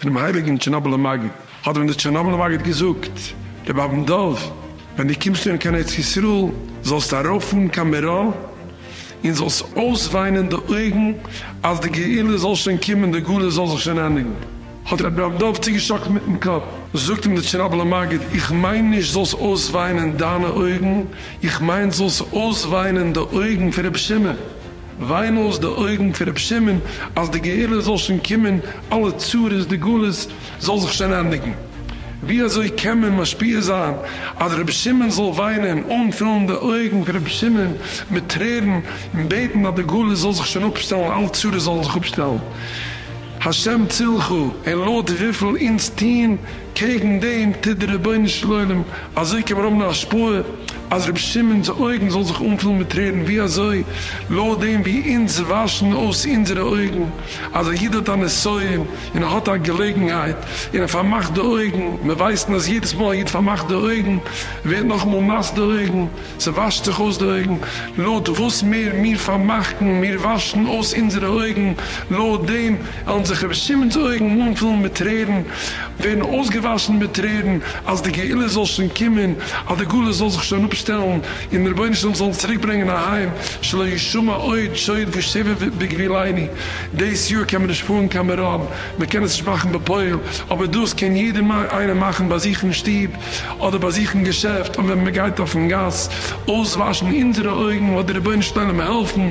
פונעם הייליגן טשערנאבלער מגיד, האט ווען דער טשערנאבלער מגיד געזאגט, רבי אבן דוב, ווען דו קומסט אן קיין ארץ ישראל, זאלסטו ארויפפארן קיין מירון, און זאלסט אויסוויינען די אויגן אז די גאולה זאל שוין קומען, די גלות זאל זיך שוין ענדיגן. האט רבי אבן דוב צוגעשאקלט מיטן קאפ. זאגט אים דער טשערנאבלער מגיד, איך מיין נישט זאלסט אויסוויינען דיינע אויגן, איך מיין זאלסט אויסוויינען די אויגן פון רבי שמעון. וויין אויס די אויגן פון רבי שמעון אז די גאולה זאל שוין קומען, אלע צרות די גלות זאל זיך שוין ענדיגן, ווי אזוי קען מען משפיע זיין אז רבי שמעון זאל וויינען, אנפילן די אויגן פון רבי שמעון מיט טרערן און בעטן אז די גלות זאל זיך שוין אפשטעלן, אלע צרות זאלן זיך אפשטעלן, השם צילך, און לויט וויפיל אונז טוהן קעגן דעם טוט דער רבונו של עולם, אזוי קען מען האבן א השפעה אז רבי שמעון'ס אויגן זאל זיך אנפילן מיט טרערן, ווי אזוי? לויט דעם ווי אונז וואשן אויס אונזערע אויגן, אז א איד האט א נסיון און ער האט א געלעגנהייט און ער פארמאכט די אויגן, מיר ווייסן אז יעדעס מאל א איד פארמאכט די אויגן, ווערט נאכאמאל נאס די אויגן, ס'וואשט זיך אויס די אויגן, לויט וואס מער מיר פארמאכן, מיר וואשן אויס אונזערע אויגן, לויט דעם. וועלן זיך רבי שמעון'ס אויגן אנפילן מיט טרערן, ווערן אויסגעוואשן מיט טרערן, אז די גאולה זאל שוין קומען, אז די גלות זאל זיך שוין אפשטעלן, און דער רבונו של עולם זאל אונז צוריק ברענגען אהיים, שלא ישמע עוד שעוד ושבר בגבילני, דאס יאר קען מען נישט פארן קיין מירון, מען קען עס נישט מאכן בפועל, אבער דאס קען יעדער איינער מאכן ביי זיך אין שטוב, אדער ביי זיך אין געשעפט, און ווען מען גייט אויפן גאס, אויסוואשן אונזערע אויגן, און לאט די רבונו של עולם העלפן.